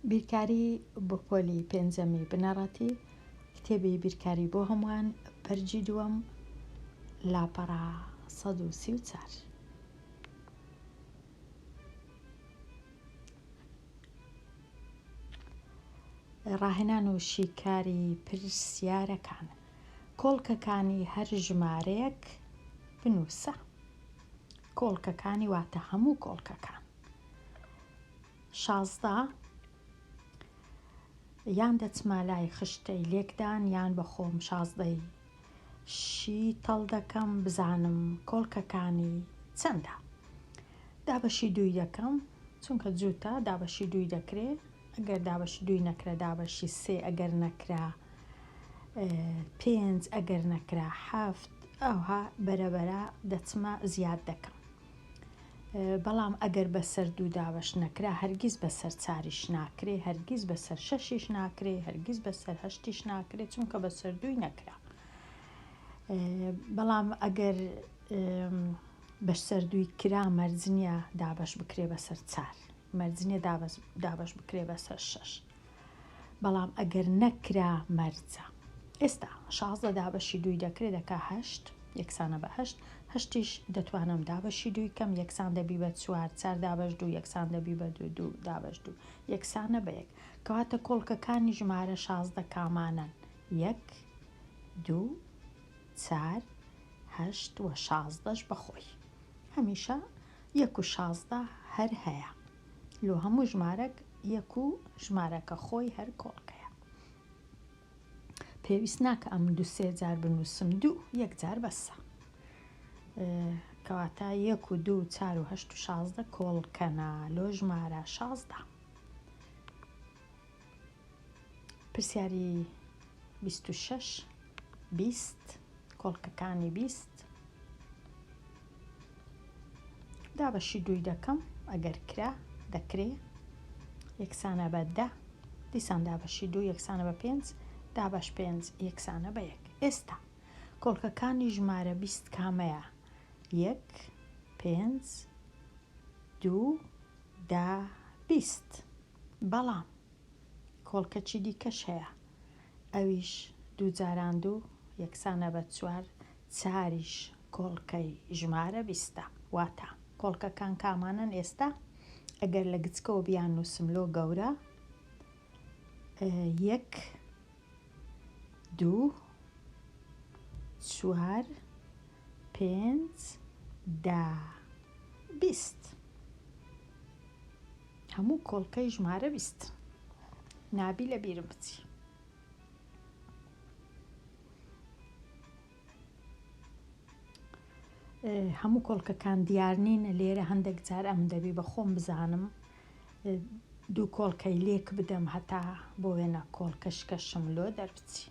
بیرکاری بۆ پۆلی پێنجەمی بنەڕەتی کتێبی بیرکاری بۆ هەمووان پەرجی دووەم لاپەڕە 134 ڕاهێنان و شیکاری پرسیارەکان کۆڵکەکانی هەر ژمارەیەک بنووسە. کۆڵکەکانی واتە هەموو کۆڵکەکان. شازدە یان دەچمە لای خشتەی لێکدان یان بە خۆم شازدەی شی تەڵ دەکەم بزانم کۆڵکەکانی چەندە. دابەشی دووی دەکەم چونکە جووتە دابەشی دووی دەکرێ ئەگەر دابەشی دووی نەکرا دابەشی سێ ئەگەر نەکرا پێنج ئەگەر نەکرا حەفت ئەوها بەرەبەرە دەچمە زیاد دەکەم بەڵام ئەگەر بەسەر دوو دابش نەکرا هەرگیز بەسەر چاریش ناکرێ هەرگیز بەسەر شەشیش ناکرێ هەرگیز بەسەر هەشتیش ناکرێت چونکە بەسەر دووی نەکرا بەڵام ئەگەر بەش سەر دووی کرا مەرزنیە دابش بکرێ بەسەر چار مەرج نیە دابەش بکرێ بە سەر شەش بەڵام ئەگەر نەکرا مەرجە ئێستا شازدە دابەشی دووی دەکرێ دەکا هەشت یەکسانە بە هەشت هەشتیش دەتوانم دابەشی دووی کەم یەکسان دەبی بە چوار چار دابش دوو یەکسان دەبی بە دوو دوو دابش دوو یەکسانە بە یەک کەواتە کۆڵکەکانی ژمارە شازدە کامانن یەک دوو چار هەشت و شازدەش بەخۆی هەمیشە یەک و شازدە هەر هەیە لۆ هەموو ژمارەک یەک و ژمارەکە خۆی هەر کۆڵکەیە پێویست ناکە ئەم دو سێ جار بنووسم دوو یەک جار بەسە کەواتە یەک و دوو چار و هەشت و شازدە کۆڵکەنا لۆ ژمارە شازدە پرسیاری بیست و شەش بیست کۆڵکەکانی بیست دابەشی دووی دەکەم ئەگەر کرا دەکرێ یەکسانە بە دە دیسان دابەشی دوو یەکسانە بە پێنج دابەش پێنج یەکسانە بە یەک ئێستا کۆڵکەکانی ژمارە بیست کامەیە یەک پێنج دوو دا بیست بەڵام کۆڵکەچی دیکەش هەیە ئەویش دوو جاران دوو یەکسانە بە چوار، چاریش کۆڵکەی ژمارە بیستە. واتا، کۆڵکەکان کامانەن ئێستا ئەگەر لە گچکەوە بیاننووسم لۆ گەورە، یەک، دوو، چوار، پێنج، دە، بیست. هەموو کۆڵکەی ژمارە بیست نابی لە بیرم بچی. هەموو کۆڵکەکان دیار نین لێرە هەندێک جار ئەم دەبی بە خۆم بزانم دوو کۆڵکەی لێک بدەم هەتا بۆ وێنە کۆڵکە شکەشم لۆ دەربچی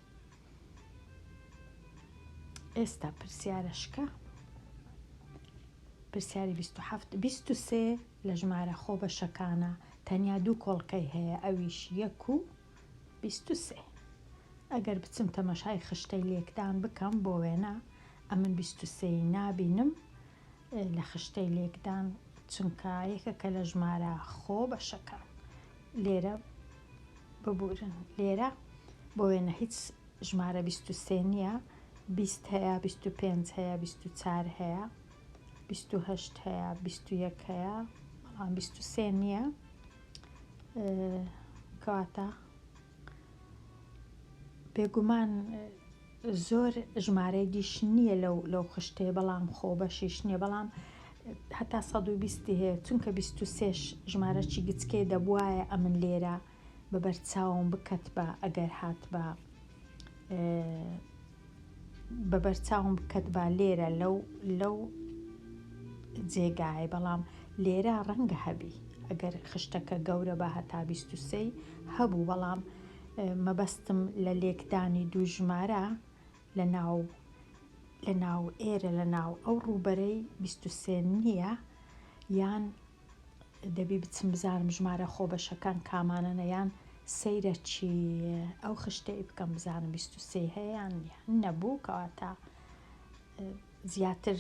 ئێستا پرسیارە شکە پرسیاری 27 23 لە ژمارە خۆبەشەکانا تەنیا دوو کۆڵکەی هەیە ئەویش یەک و بیست و سێ ئەگەر بچم تەمەشای خشتەی لێکدان بکەم بۆ وێنە ئەمن بیست و سێ ی نابینم لە خشتەی لێکدان چونکە یەکەکە لە ژمارە خۆ بەشەکان لێرە ببورن لێرە بۆ وێنە هیچ ژمارە بیست و سێ نییە بیست هەیە بیست و پێنج هەیە بیست و چار هەیە بیست و هەشت هەیە بیست و یەک هەیە بەڵام بیست و سێ نییە کەواتە بێگومان زۆر ژمارەی دیش نییە لەو لەو خشتەیە بەڵام خۆ بەشیش نییە بەڵام هەتا سەد و بیستی هەیە چونکە بیست و سێش ژمارەی گچکەی دەبواە ئەمن لێرە بە بەرچاوم بکەتبا ئەگەر هاتبا بە بەرچاوم بکەتبا لێرە لەو لەو جێگایە بەڵام لێرە ڕەنگە هەبی ئەگەر خشتەکە گەورە بە هەتا بیست و سێی هەبوو بەڵام مەبەستم لە لێکدانی دوو ژمارە لە ناو لە ناو ئێرە لە ناو ئەو ڕووبەرەی بیست و سێ نییە یان دەبی بچم بزانم ژمارە خۆبەشەکان کامانەنە یان سەیرە چی ئەو خشتەی بکەم بزانم بیست و سێی هەیە یان نەبوو کەواتە زیاتر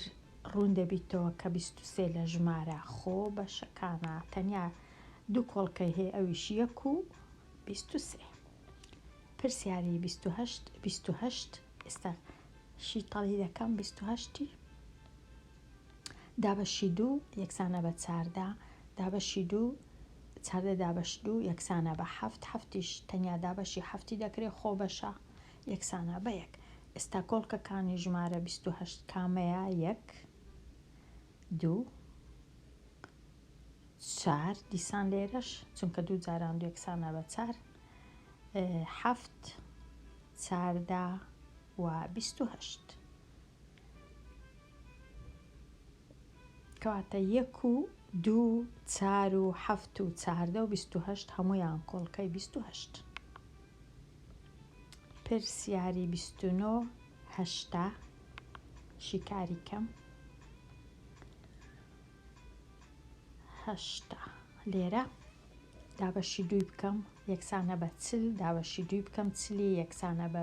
ڕوون دەبیتەوە کە بیست و سێ لە ژمارە خۆ بەشەکانە تەنیا دوو کۆڵکەی هەیە ئەویش یەک و بیست و سێ پرسیاری بیست و هەشت بیست و هەشت ئێستا شیتەڵی دەکەم بیست و هەشتی دابەشی دوو یەکسانە بە چاردە دابەشی دوو چاردە دابەش دوو یەکسانە بە حەفت حەفتیش تەنیا دابەشی حەفتی دەکرێت خۆ بەشە یەکسانە بە یەک ئێستا کۆڵکەکانی ژمارە بیست و هەشت کامەیە یەک دوو چار دیسان لێرەش چونکە دوو جاران دوو یەکسانە بە چار حەفت چاردا و بیست و هەشت کەواتە یەک و دوو و چار و حەفت و چاردە و بیست و هەشت هەموویان کۆڵکەی بیست و هەشت پرسیاری بیست و نۆ هەشتا شیکاری کەم هەشتا لێرە دابەشی دووی بکەم یەکسانە بە چل دابەشی دووی بکەم چلی یەکسانە بە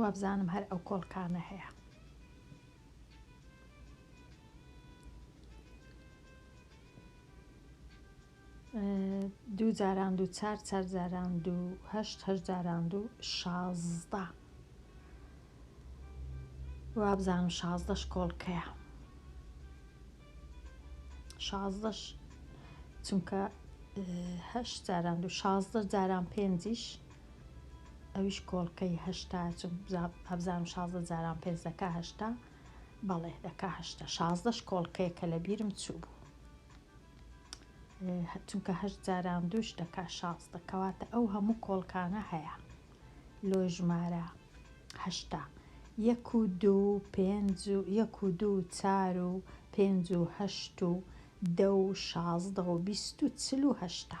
وابزانم هەر ئەو کۆڵکانە هەیە. دوو جاران دوو چار چار جاران دوو هەشت هەشت جاران دوو شازدە وابزانم شازدەش کۆڵکەیە شازدەش چونکە هەشت جاران دوو شازدە جاران پێنجیش ئەویش کۆڵکەی هەشتا هەبزانم شازدە جاران پێنج دەکا هەشتا بەڵێ دەکا هەشتا شازدەش کۆڵکەیە کە لە بیرم چوو بوو چونکە هەشت جاران دووش دەکا شاز دەکەواتە ئەو هەموو کۆڵکانە هەیە لۆ ژمارە هەشتا یەک و دوو پێنج و یەک و دوو چار و پێنج و هەشت و دە و شازدە و بیست و چل و هەشتا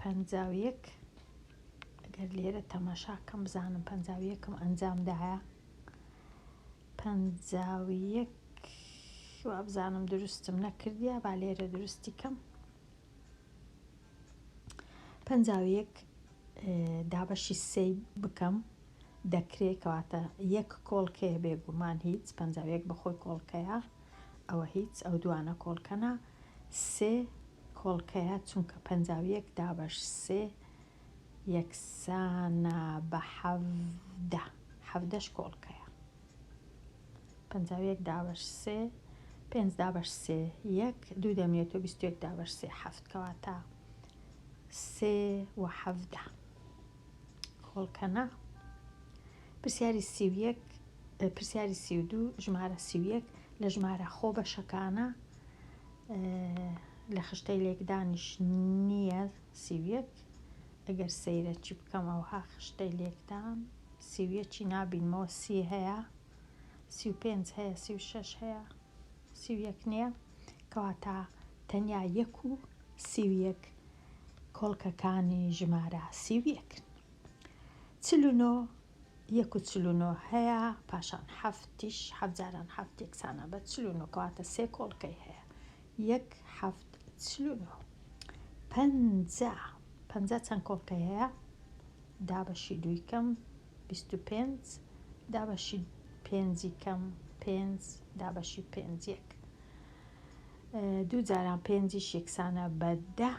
پەنجا و یەک ئەگەر لێرە تەماشا کەم بزانم پەنجا و یەکم ئەنجام دایە پەنجا و یەک وابزانم دروستم نەکردیا با لێرە دروستی کەم پەنجا و یەک دابەشی سێی بکەم دەکرێت کەواتە یەک کۆڵکەیە بێگومان هیچ پەنجا و یەک بەخۆی کۆڵکەیە ئەوە هیچ ئەو دوانە کۆڵکەنە سێ کۆڵکەیە چونکە پەنجا و یەک دابەش سێ یەکسانە بە حەڤدە حەڤدەش کۆڵکەیە پەنجا و یەک دابەش سێ پێنج دابەش سێ یەک دوو دەمێت و بیست و یەک دابەش سێ حەفت کەواتە سێ و حەڤدە کۆڵکەنە پرسیاری سی و یەک پرسیاری سی و دوو ژمارە سی و یەک لە ژمارە خۆ بەشەکانە لە خشتەی لێکدانیش نییە سی و یەک ئەگەر سەیرە چی بکەم ئەوها خشتەی لێکدان سی و یەکی نابینمەوە سی هەیە سی و پێنج هەیە سی و شەش هەیە سی و یەک نییە کەواتە تەنیا یەک و سی و یەک کۆڵکەکانی ژمارە سی و یەکن چل و نۆ یەک و چل و نۆ هەیە پاشان حەفتیش حەفت جاران حەفت یەکسانە بە چل و نۆ کەواتە سێ کۆڵکەی هەیە یەک حەفت چل و نۆ پەنجا پەنجا چەند کۆڵکەی هەیە دابەشی دووی کەم بیست و پێنج دابەشی پێنجی کەم پێنج دابەشی پێنج یەک دوو جاران پێنجیش یەکسانە بە دە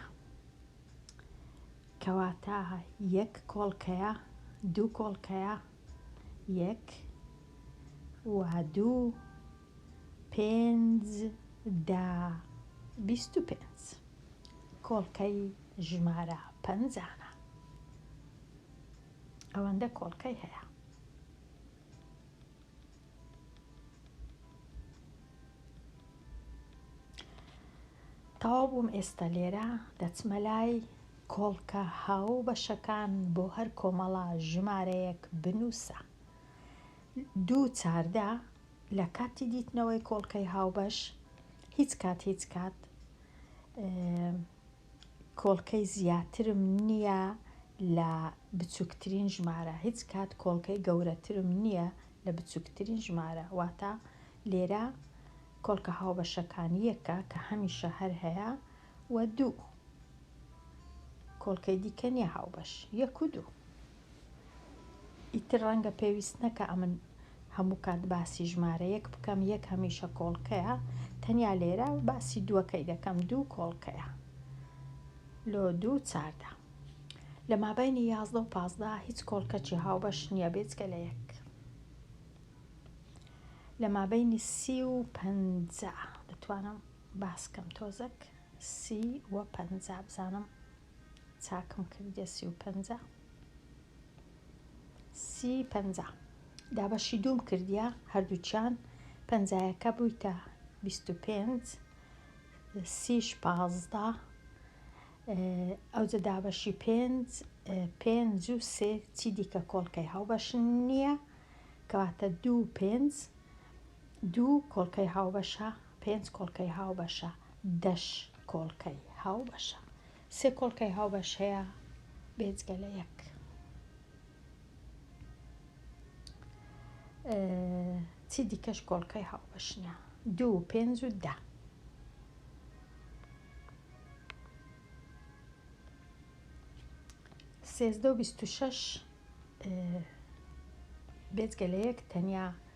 کەواتە یەک کۆڵکەیە دوو کۆڵکەیە یەک و دوو پێنج دە بیست و پێنج کۆڵکەی ژمارە پەنجانە ئەوەندە کۆڵکەی هەیە تەواو بووم ئێستا لێرە دەچمە لای کۆڵکە هاو بەشەکان بۆ هەر کۆمەڵە ژمارەیەک بنووسە دوو چاردە لە کاتی دیتنەوەی کۆڵکەی هاوبەش هیچ کات هیچ کات کۆڵکەی زیاترم نیە لە بچوکترین ژمارە هیچ کات کۆڵکەی گەورەترم نیە لە بچوکترین ژمارە واتە لێرە کۆڵکە هاوبەشەکان یەکە کە هەمیشە هەر هەیە و دوو کۆڵکەی دیکە نیە هاوبەش یەک و دوو. ئیتر ڕەنگە پێویست نەکا ئەمن هەموو کات باسی ژمارە یەک بکەم، یەک هەمیشە کۆڵکەیە، تەنیا لێرە باسی دووەکەی دەکەم، دوو کۆڵکەیە لۆ دوو چاردە. لە مابەینی یازدە و پازدە هیچ کۆڵکەکی هاوبەش نییە بێجگە لە یەک. لە مابەینی سی و پەنجا دەتوانم باسکەم تۆزەک سی و پەنجا بزانم چاکم کردیە سی و پەنجا سی پەنجا دابەشی دووم کردیە هەردووچیان پەنجایەکە بوویتە بیست و پێنج سیش پازدە ئەوجە دابەشی پێنج پێنج و سێ چی دیکە کۆڵکەی هاوبەش نییە کەواتە دوو پێنج دوو کۆڵکەی هاوبەشە پێنج کۆڵکەی هاوبەشە دەش کۆڵکەی هاوبەشە. سێ کۆڵکەی هاوبەش هەیە بێجگە لە یەک. چی دیکەش کۆڵکەی هاوبەشنە دوو پێنج و دە. سێزدە و بیست و شەش بێجگە لە یەک تەنیا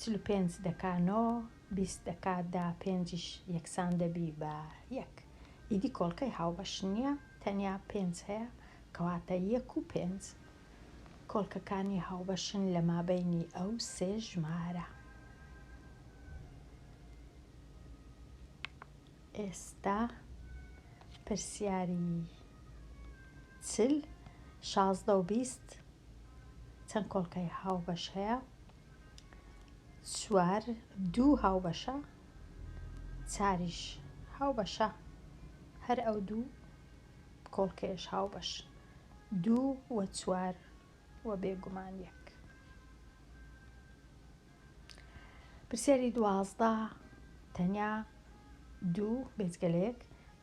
چل و پێنج دەکا نۆ، بیست دەکا دە، پێنجیش یەکسان دەبی بە یەک. ئیدی کۆڵکەی هاوبەش نییە، تەنیا پێنج هەیە، کەواتە یەک و پێنج کۆڵکەکانی هاوبەشن لە مابەینی ئەو سێ ژمارە. ئێستا پرسیاری چل، شازدە و بیست چەند کۆڵکەی هاوبەش هەیە؟ چوار دوو هاوبەشە، چاریش هاوبەشە، هەر ئەو دوو کۆڵکەیەش هاوبەش دوو و چوار. وە بێ گومان یەک. پرسیاری دوازدە تەنیا دوو بێجگە لە یەک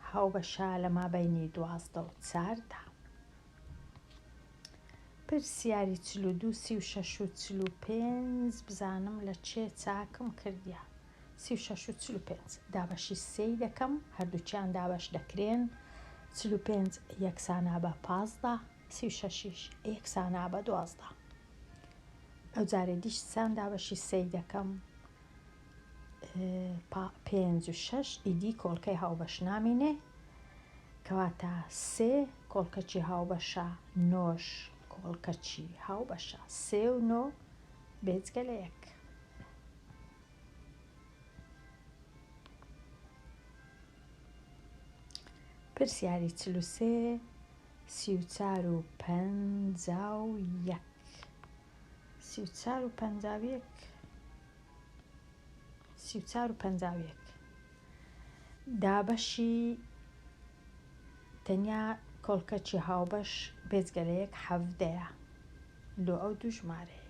هاوبەشە لە مابەینی دوازدە و چاردا پرسیاری چل و دوو سی و شەش و چل و پێنج بزانم لە چێ چاکم کردیە سی و شەش و چل و پێنج دابەشی سێی دەکەم، هەردووکیان دابەش دەکرێن، چل و پێنج یەکسانە بە پازدە، سی و شەشیش یەکسانە بە دوازدە. ئەو جارێ دیش سان دابەشی سێی دەکەم، پێنج و شەش ئیدی کۆڵکەی هاوبەش نامینێ، کەواتە سێ کۆڵکەچی هاوبەشە، نۆش کۆڵکەچی هاوبەشە، سێ و نۆ بێجگە لە یەک. پرسیاری چل و سێ سی و چار و پەنجا و یەک سی و چار و پەنجا و یەک سی و چار و پەنجا و یەک دابەشی تەنیا کۆڵکەچی هاوبەش بێجگە لە یەک حەڤدەیە لۆ ئەو دوو ژمارەیەی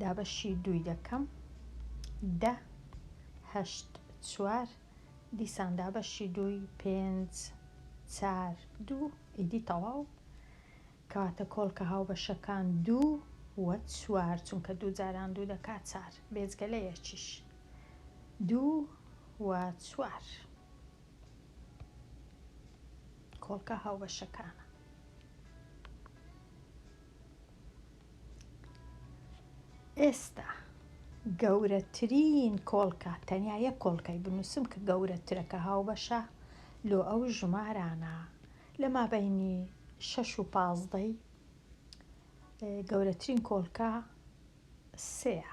دا بەشی دووی دەکەم دە هەشت چوار دیسان دا بەشی دووی پێنج چار دوو ئیدی تەواو کەواتە کۆڵکە هاوبەشەکان دوو و چوار چونکە دوو جاران دوو دەکات چار بێجگە لە یەکیش دوو و چوار کۆڵکە هاوبەشەکانە. ئێستا گەورەترین کۆڵکە، تەنیا یەک کۆڵکەی بنووسم کە گەورەترە کە هاوبەشە لۆ ئەو ژمارانە لە مابەینی شەش و پازدەی گەورەترین کۆڵکە سێیە.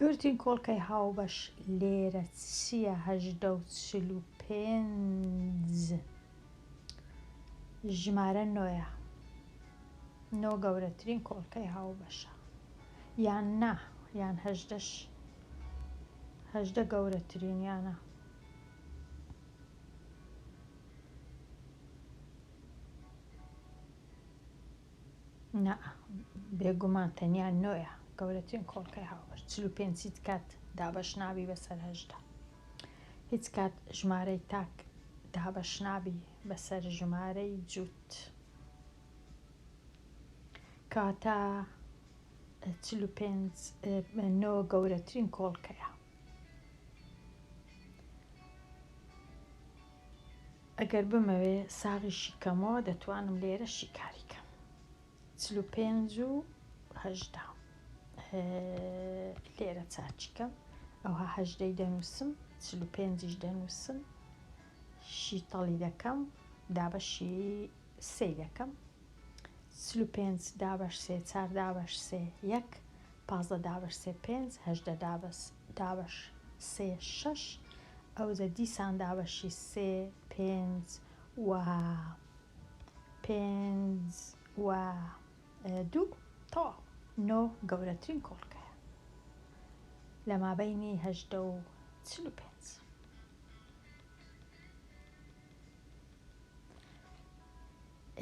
گرتین کۆڵکەی هاوبەش لێرە چیە هەژدە و چل و پێنج ژمارە نۆیە نۆ گەورەترین کۆڵکەی هاوبەشە یان نا یان هەژدەش هەژدە گەورەترینیانە نا بێگومان تەنیا نۆیە گەورەترین کۆڵکەی هاوبەش چل و پێنج هیچ کات دابەش نابی بەسەر هەژدە هیچ کات ژمارەی تاک دابەش نابی بەسەر ژمارەی جووت کاتە چل و پێنج نۆ گەورەترین کۆڵکەیە ئەگەر بمەوێ ساغی شیکەمەوە دەتوانم لێرە شیکاری کەم چل و پێنج و هەژدە لێرە چاچیکەم ئەوها هەژدەی دەنووسم چل و پێنجیش دەنووسم شیتەڵی دەکەم دابەشی سێ دەکەم چل و پێنج دابەش سێ چار دابەش سێ یەک پازدە دابەش سێ پێنج هەژدە دابەس دابەش سێ شەش ئەوجە دیسان دابەشی سێ پێنج و پێنج و دوو تەواو نۆ گەورەترین کۆڵکەیە لە مابەینی هەژدە و چل و پێنج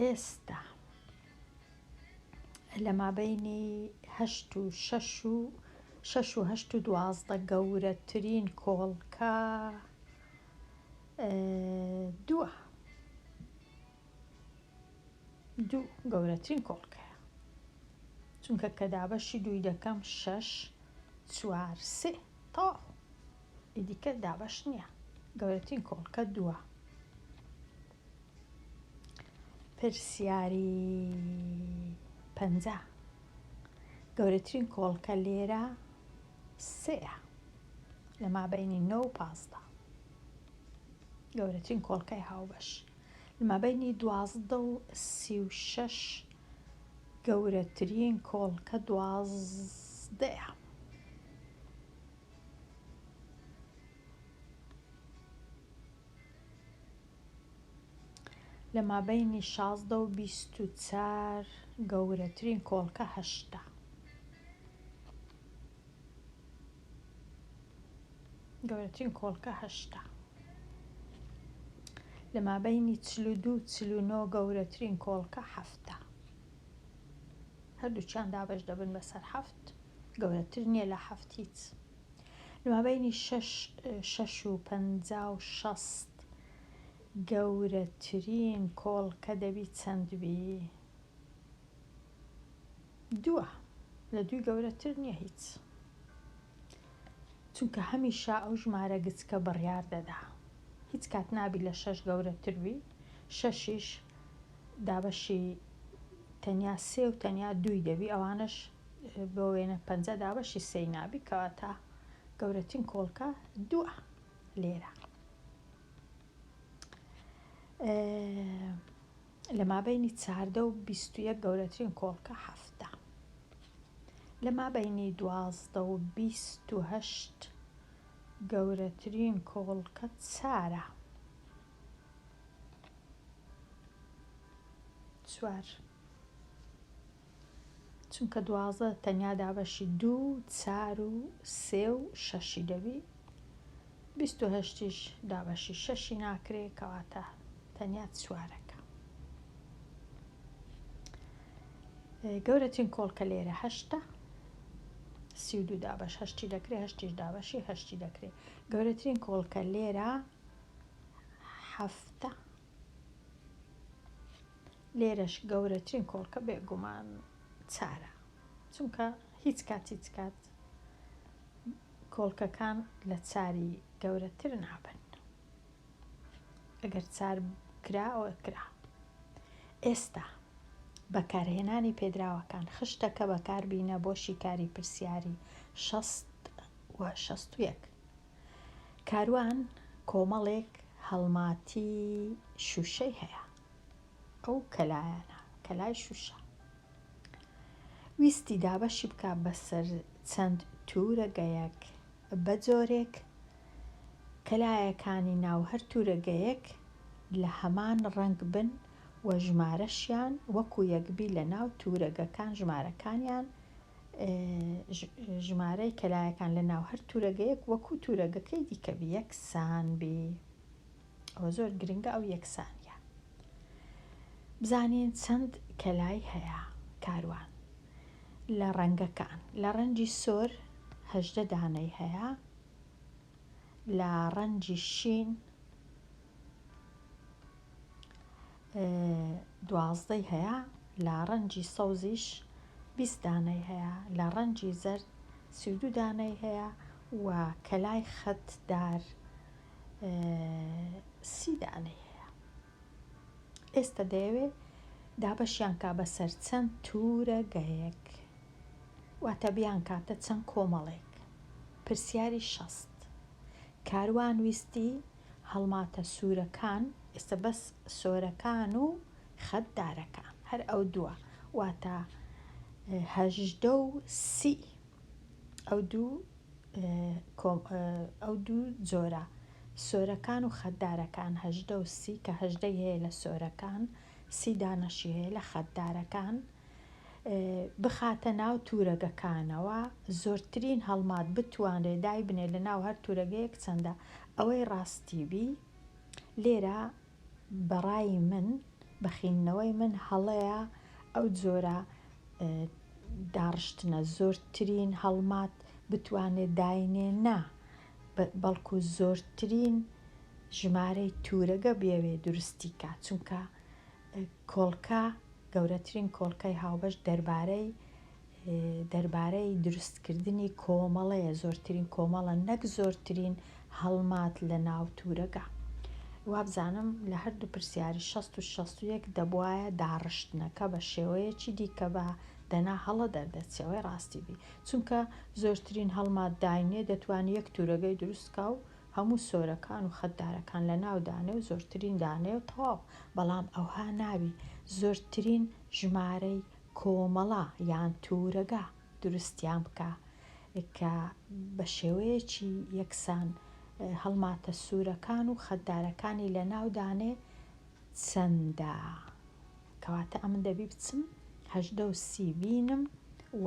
ئێستا لە مابەینی هەشت و شەش و شەش و هەشت و دوازدە گەورەترین کۆڵکە دووە دوو گەورەترین کۆڵکەیە چونکە کە دابەشی دووی دەکەم شەش چوار سێ تەواو ئیدیکە دابەش نییە گەورەترین کۆڵکە دووە پرسیاری پەنجا، گەورەترین کۆڵکە لێرە سێیە لە مابەینی نۆ و پازدە. گەورەترین کۆڵکەی هاوبەش لە مابەینی دوازدە و سی و شەش گەورەترین کۆڵکە دوازدەیە. لە مابەینی شازدە و بیست و چار گەورەترین کۆڵکە هەشتە گەورەترین کۆڵکە هەشتە لە مابەینی چل و دوو چل و نۆ گەورەترین کۆڵکە حەفتە هەردووچیان دابش دەبن بەسەر حەفت گەورەتر نییە لە حەفت هیچ لەمابەینی شەش شەش و پەنجا و شەست گەورەترین کۆڵکە دەبی چەند بی؟ دووە لە دووی گەورەتر نییە هیچ چونکە هەمیشە ئەو ژمارە گچکە بڕیار دەدا هیچ کات نابی لە شەش گەورەتر بی شەشیش دابەشی تەنیا سێ و تەنیا دووی دەبی ئەوانش بۆ وێنە پەنجە دابەشی سێی نابی کەواتە گەورەترین کۆڵکە دووە لێرە لە مابینی چاردە و بیستویە گەورەترین کۆڵکە هەفتە لە مابینی دوازدە و بیست و هەشت گەورەترین کۆڵکە چارە چوار چونکە دوازدە تەنیا دابەشی دوو و چار و سێ و شەشی دەبی بیست و هەشتیش دابەشی شەشی ناکرێ کەواتە تەنیا چوارەکە گەورەترین کۆڵکە لێرە هەشتە سی و دوو دابەش هەشتی دەکرێ هەشتیش دابەشی هەشتی دەکرێ گەورەترین کۆڵکە لێرە هەفتە لێرەش گەورەترین کۆڵکە بێگومان چارە چونکە هیچ کات هیچ کات کۆڵکەکان لە چاری گەورەتر نابن ئەگەر چار کرا ئەوە کرا ئێستا بەکارهێنانی پێدراوەکان خشتەکە بەکاربینە بۆ شیکاری پرسیاری شەست و شەست و یەک کاروان کۆمەڵێک هەڵماتی شوشەی هەیە ئەو کەلایانە کەلای شوشە ویستی دابەشی بکە بەسەر چەند تورەگەیەک بەجۆرێک کەلایەکانی ناو هەر تورەگەیەک لە هەمان ڕەنگ بن و ژمارەشیان وەکو یەکبی لە ناو تورەگەکان ژمارەکانیان ژمارەی کەلایەکان لە ناو هەر تورەگەیەک وەکو تورەگەکەی دیکە بی یەکسان بی ئەوە زۆر گرنگە ئەو یەکسانە بزانین چەند کەلای هەیە کاروان لە ڕەنگەکان لە ڕەنجی سۆر هەژدە دانەی هەیە لە ڕەنجی شین دوازدەی هەیە لە ڕەنجی سەوزیش بیست دانەی هەیە لە ڕەنجی زەرد سی و دوو دانەی هەیە و کەلای خەتدار سی دانەی هەیە ئێستا دەیەوێ دابەشیان کا بەسەر چەند تورە گەیەک واتە بیان کاتە چەند کۆمەڵێک پرسیاری شەست کاروان ویستی هەڵماتە سورەکان ئێستا بەس سۆرەکان و خەت دارەکان هەر ئەو دووە واتە هەژدە و سی ئەو دوو ئەو دوو جۆرە سۆرەکان و خەتدارەکان هەژدە و سی کە هەژدەی هەیە لە سۆرەکان سی دانەشی هەیە لە خەتدارەکان بخاتە ناو تورەگەکانەوە زۆرترین هەڵمات بتوانرێ دایبنێ لە ناو هەر تورەگەیەک چەندە ئەوەی ڕاستی بی لێرە بەڕای من بەخینەوەی من هەڵەیە ئەو جۆرە داڕشتنە زۆرترین هەڵمات بتوانێ داینێ نا بەڵکو زۆرترین ژمارەی تورەگە بێوێ دروستی کا چونکە کۆڵکە، گەورەترین کۆڵکەی هاوبەش دەربارەی دەربارەی دروستکردنی کۆمەڵەیە، زۆرترین کۆمەڵە نەک زۆرترین هەڵمات لە ناو تورەگا. وابزانم لە هەردوو پرسیاری شەست و شەست و یەک دەبوایە داڕشتنەکە بە شێوەیەکی دیکە با، دەنا هەڵە دەردەچێ وەی ڕاستی بی، چونکە زۆرترین هەڵمات داینێ دەتوانی یەک تورەگەی دروست کا و هەموو سۆرەکان و خەتدارەکان لەناو دانێ و زۆرترین دانێ و تەواو بەڵام ئەوها نابی زۆرترین ژمارەی کۆمەڵە یان تورەگە دروستیان بکە کە بە شێوەیەکی یەکسان هەڵماتە سورەکان و خەتدارەکانی لەناو دانێ چەندە کەواتە ئەمن دەبی بچم هەژدە و سی بینم و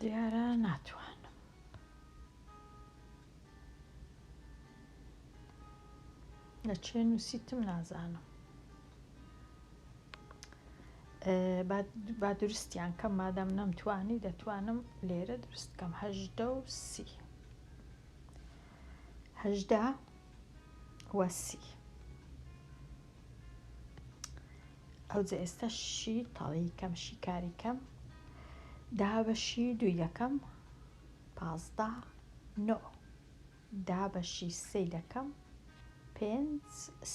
دیارە ناتوانم. لە چێ نووسیتم نازانم با درستیان کەم مادەم نەمتوانی دەتوانم لێرە درست کەم هەژدە و سی هەژدە و سی ئەوجە ئێستا شی تەڵی کەم شیکاری کەم دا بە شی دوو یەکەم پازدە نۆ دا بە شی سێ یەکەم پێنج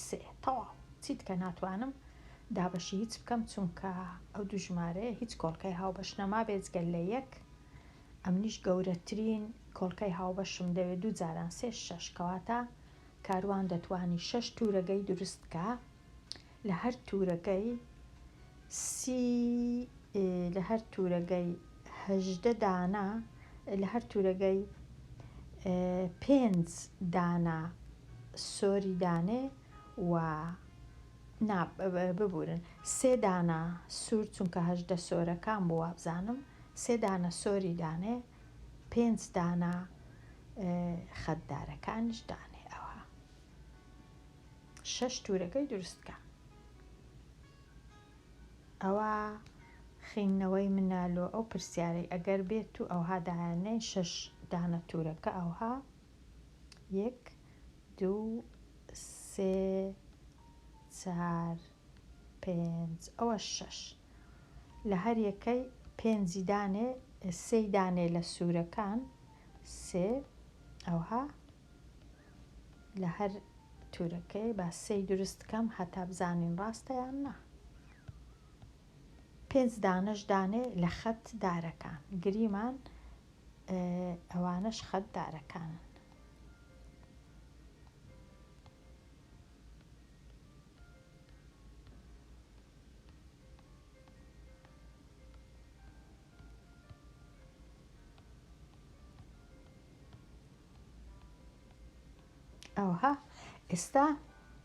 سێ تەواو چیت کە ناتوانم دا بەشی هیچ بکەم چونکە ئەو دوو ژمارەیە هیچ کۆڵکەی هاو بەش نەما بێجگەل لە یەک ئەمنیش گەورەترین کۆڵکەی هاوبەشم دەوێ دوو جاران سێ شەش کەواتە کاروان دەتوانی شەش تورەگەی دروست بکا لە هەر تورەگەی سی لە هەر تورەگەی هەژدە دانە لە هەر تورەگەی پێنج دانە سۆری دانێ و نا ببورن سێ دانە سور چونکە هەژدە سۆرەکان بوو وابزانم سێ دانە سۆری دانێ پێنج دانە خەت دارەکانیش دانێ ئەوها شەش تورەکەی دروستکە ئەوە خینەوەی منالۆ ئەو پرسیارەی ئەگەر بێت و ئەوها دایانەی شەش دانە تورەکە ئەوها یەک دوو سێ چار پێنج ئەوە شەش لە هەر یەکەی پێنجی دانێ سێی دانێ لە سوورەکان سێ ئەوها لە هەر تورەکەی با سێی دروست کەم هەتا بزانین ڕاستە یان نا پێنج دانەش دانێ لە خەت دارەکان گریمان ئەوانەش خەت دارەکانن. ئەوها ئێستا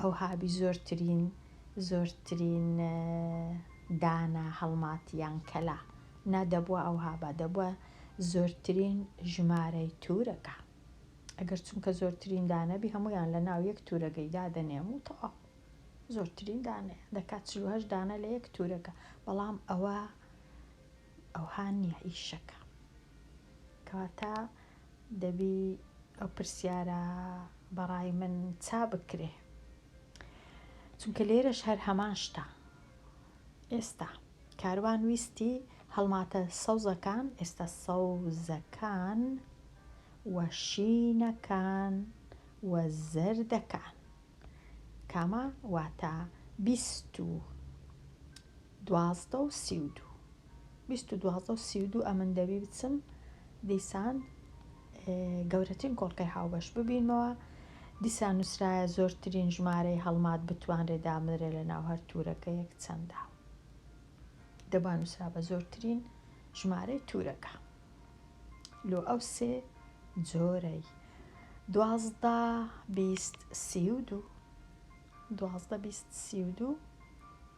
ئەوها بی زۆرترین زۆرترین دانە هەڵمات یان کەلا نا دەبوا ئەوها با دەبوا زۆرترین ژمارەی تورەگە ئەگەر چونکە زۆرترین دانەبی هەمویان لە ناو یەک تورەگەی دادەنێم و تەواو زۆرترین دانێ دەکات چلوهەشت دانە لە یەک تورەگە بەڵام ئەوە ئەوها نیە ئیشەکە کەواتە دەبی ئەو پرسیارە بەڕای من چا بکرێ چونکە لێرەش هەر هەمان شتە ئێستا کاروان ویستی هەڵماتە سەوزەکان ئێستا سەوزەکان وە شینەکان وە زەردەکان کامە واتە بیست و دوازدە و سی و دوو. بیست و دوازدە و سی و دوو ئەمن دەبی بچم دیسان گەورەترین کۆڵکەی هاوبەش ببینمەوە دیسان نووسرایە زۆرترین ژمارەی هەڵمات بتوانرێ دامدرێ لە ناو هەر تورەکەیەک چەندە دەبا نووسرا بە زۆرترین ژمارەی تورەکە لۆ ئەو سێ جۆرەی دوازدە بیست سی و دوو دوازدە بیست سی و دوو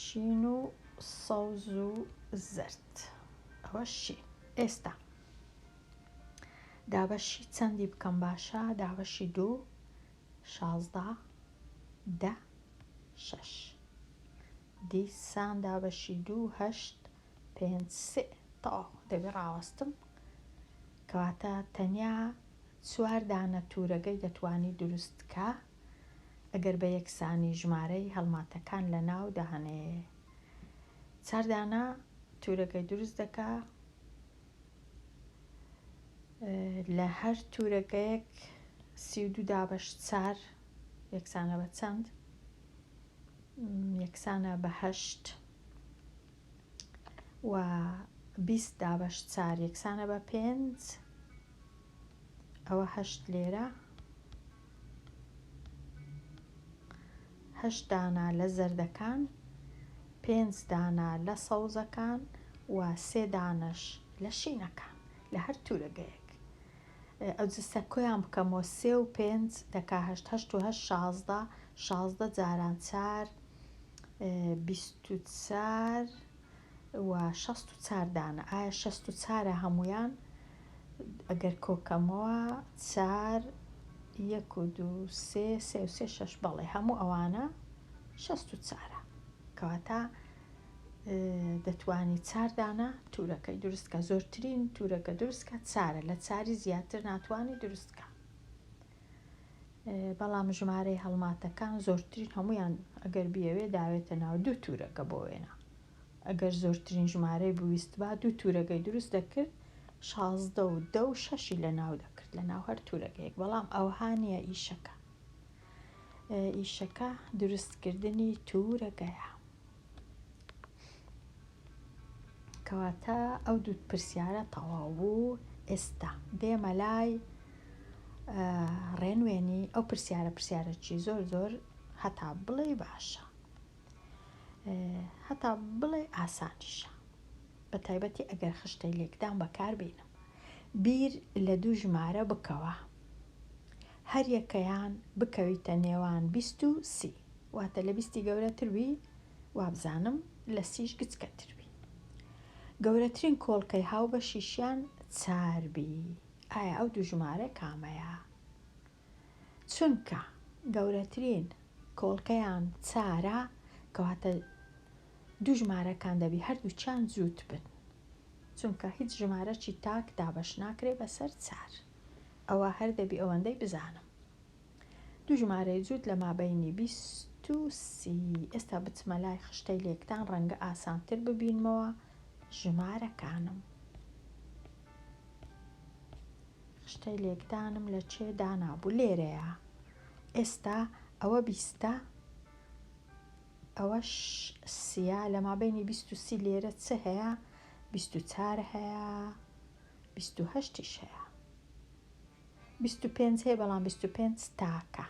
شین و سەوز و زەرد ئەوە شی ئێستا دابەشی چەندی بکەم باشە دابەشی دوو شازدە دە شەش دیسان دابەشی دوو هەشت پێنج سێ تەواو دەبێ ڕاوەستم کەواتە تەنیا چوار دانە تورەگەی دەتوانی دروست کە ئەگەر بە یەکسانی ژمارەی هەڵماتەکان لە ناو دانێ چار دانە تورەگەی دروست دەکا لە هەر تورەگەیەک سی و دوو دابەش چار یەکسانە بە چەند یەکسانە بە هەشت و بیست دابەش چار یەکسانە بە پێنج ئەوە هەشت لێرە هەشت دانا لە زەردەکان پێنج دانا لە سەوزەکان و سێ دانەش لە شینەکان لە هەر تورەگەیەک ئەو جسە کۆیان بکەمەوە سێ و پێنج دەکا هەشت هەشت و هەشت شازدە شازدە جاران چار بیست و چار و شەست و چار دانە ئایا شەست و چارە هەموویان ئەگەر کۆکەمەوە چار یەک و دوو سێ سێ و سێ شەش بەڵێ هەموو ئەوانە شەست و چارە کەواتە دەتوانی چاردانە تورەکە دروستکە زۆرترین تورەکە دروستکە چارە لە چاری زیاتر ناتوانانی دروستکە بەڵام ژمارەی هەڵماتەکان زۆرترین هەمویان ئەگەر بیەوێ داوێتە ناو دوو تورەکە بۆ وێنە ئەگەر زۆرترین ژمارەی بویست با دوو تورەکەی دروست دەکرد شازدە و دە و شەشی لە ناو دەکرد لە ناو هەر تورەکەیەک بەڵام ئەوها نیە ئیشەکە ئیشەکە دروستکردنی تورەکەیە کەواتە ئەو دوو پرسیارە تەواو بوو ئێستا دێمە لای ڕێنوێنی ئەو پرسیارە پرسیارەکی زۆر زۆر هەتا بڵێ باشە هەتا بڵێ ئاسانیشە بە تایبەتی ئەگەر خشتەی لێکدان بەکاربیینم بیر لە دوو ژمارە بکەوە هەریەکەیان بکەویتە نێوان بیست و سی واتە لە بیستی گەورەتر بی وابزانم لە سیش گچکەتر بی. گەورەترین کۆڵکەی هاوبەشیشیان چار بی ئایا ئەو دوو ژمارە کامەیە؟ چونکە گەورەترین کۆڵکەیان چارە کەواتە دوو ژمارەکان دەبی هەردووچیان جووت بن چونکە هیچ ژمارەکی تاک دابەش ناکرێ بەسەر چار ئەوە هەر دەبی ئەوەندەی بزانم. دوو ژمارەی جووت لە مابەینی بیست و سی. ئێستا بچمە لای خشتەی لێکدان ڕەنگە ئاسانتر ببینمەوە ژمارەکانم. خشتەی لێکدانم لە چێ دانابوو لێرەیە ئێستا ئەوە بیستە ئەوەش سیە لە مابینی بیست و سی لێرە چ هەیە بیست و چار هەیە بیست و هەشتیش هەیە بیست و پێنج هەیە بەڵام بیست و پێنج تاکە.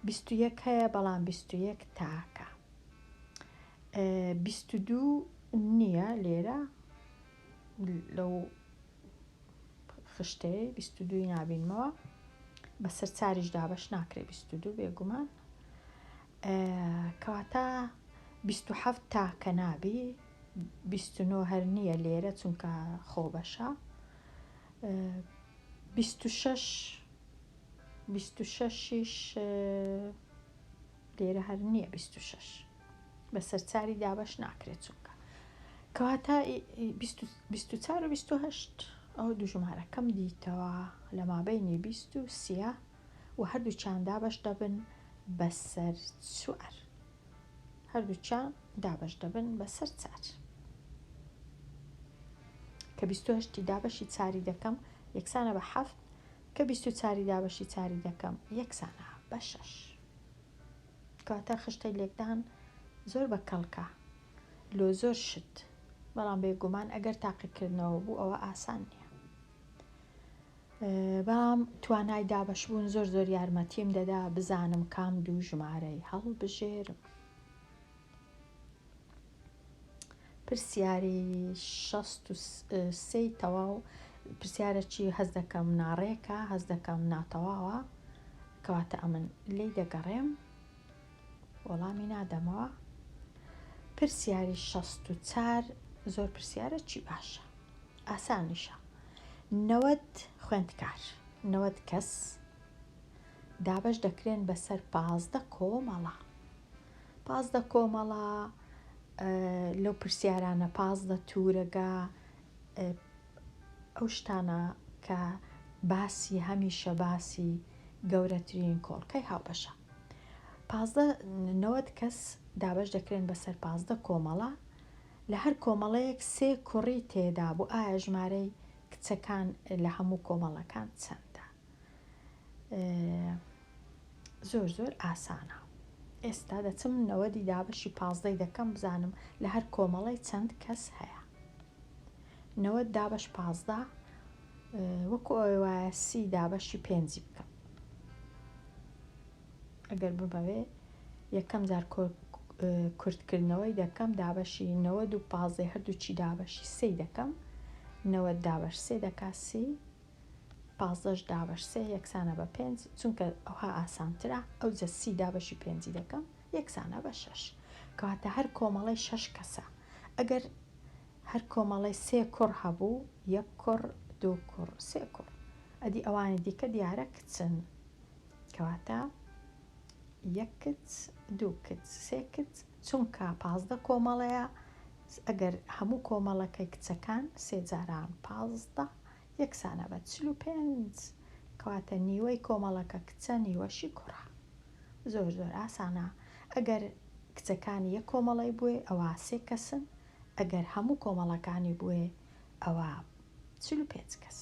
بیست و یەک هەیە بەڵام بیست و یەک تاکە. بیست و دوو نییە لێرە لەو خشتەیە بیست و دووی نابینمەوە بەسەر چاریش دابەش ناکرێ بیست و دوو بێگومان کەواتە بیست و حەفت تاکە نابی بیست و نۆ هەر نییە لێرە چونکە خۆ بەشە بیست و شەش بیست و شەشیش لێرە هەر نییە بیست و شەش بەسەر چاری دابش ناکرێت چونکە کەواتە بیست و چار و بیست و هەشت ئەو دوژمارەکەم دیتەوە لە مابینی بیست و سیە و هەردووکیان دابەش دەبن بەسەر چوار هەردووکیان دابەش دەبن بەسەر چار کە بیست و هەشتی دابەشی چاری دەکەم یەکسانە بە حەفت کە بیست و چاری دابەشی چاری دەکەم یەکسانە بە شەش کاتە خشتەی لێکدان زۆر بە کەڵکە لۆ زۆر شت بەڵام بێگومان ئەگەر تاقیکردنەوە بوو ئەوە ئاسان نییە بەام توانای دابەشبوون زۆر زۆر یارمەتیم دەدا بزانم کام دوو ژمارەی هەڵبژێرم پرسیاری شەست و سێی تەواو پرسیارەکی هەز دەکەم ناڕێکە هەز دەکەم ناتەواوە کەواتە ئەمن لی دەگەڕێم وەڵامی نادەمەوە پرسیاری شەست و چار زۆر پرسیارەکی باشە ئاسانیشە نەوەد خوێندکار، نەوەد کەس، دابەش دەکرێن بەسەر پازدە کۆمەڵە. پازدە کۆمەڵە لەو پرسیارانە پازدە تورەگە ئەو شتانە کە باسی هەمیشە باسی گەورەترین کۆڵکەی هاوبەشە. پازدە نەوەد کەس دابەش دەکرێن بەسەر پازدە کۆمەڵە لە هەر کۆمەڵەیەک سێ کوڕی تێدا بوو ئایا ژمارەی کچەکان لە هەموو کۆمەڵەکان چەندە زۆر زۆر ئاسانە ئێستا دەچم نەوەدی دابەشی پازدەی دەکەم بزانم لە هەر کۆمەڵی چەند کەس هەیە نەوە دابش پازدە وەکو ئەوەیە سی دابەشی پێنجی بکەم ئەگەر بمەوێ یەکەم جار کورتکردنەوەی دەکەم دابەشی نەوەد و پازدەی هەردووچی دابەشی سێی دەکەم نەوەد دابەش سێ دەکا سی پازدەش دابەش سێ یەکسانە بە پێنج چونکە ئەوها ئاسانترە ئەو جە سی دابەشی پێنجی دەکەم یەکسانە بە شەش کەواتە هەر کۆمەڵی شەش کەسە ئەگەر هەر کۆمەڵی سێ کوڕ هەبوو یەک کوڕ دوو کوڕ سێ کوڕ ئەدی ئەوانی دیکە دیارە کچن کەواتە یەک کچ دوو کچ سێ کچ چونکە پازدە کۆمەڵەیە ئەگەر هەموو کۆمەڵەکەی کچەکان سێ جاران پازدە یەکسانە بە چل و پێنج کەواتە نیوەی کۆمەڵەکە کچە نیوەشی کوڕە زۆر زۆر ئاسانە ئەگەر کچەکانی یەک کۆمەڵی بووێ ئەوە سێ کەسن ئەگەر هەموو کۆمەڵەکانی بووێ ئەوە چل و پێنج کەس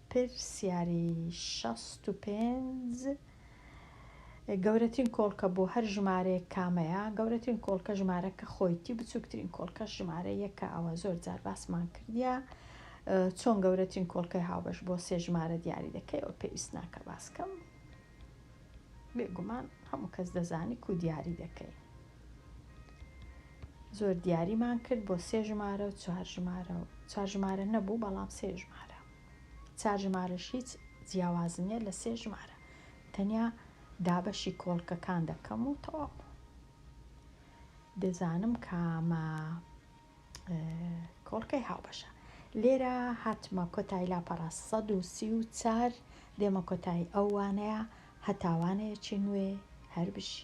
پرسیاری شەست و پێنج گەورەترین کۆڵکە بۆ هەر ژمارەیەک کامەیە گەورەترین کۆڵکە ژمارەکە خۆیتی بچووکترین کۆڵکە ژمارە یەکە ئەوە زۆر جار باسمان کردە چۆن گەورەترین کۆڵکەی هاوبەش بۆ سێ ژمارە دیاری دەکەی ئەو پێویست ناکە باسکەم بێگومان هەموو کەس دەزانی کو دیاری دەکەی زۆر دیاریمان کرد بۆ سێ ژمارە و چوار ژمارە و چوار ژمارە نەبوو بەڵام سێ ژمارە چوار ژمارەش هیچ جیاواز نییە لە سێ ژمارە تەنیا دابەشی کۆڵکەکان دەکەم و تەواو دەزانم کامە کۆڵکەی هاوبەشە لێرە هاتمە کۆتای لاپەڕە 134 دێمە کۆتای ئەو وانەیە هەتاوانەیەکی نوێ هەربژی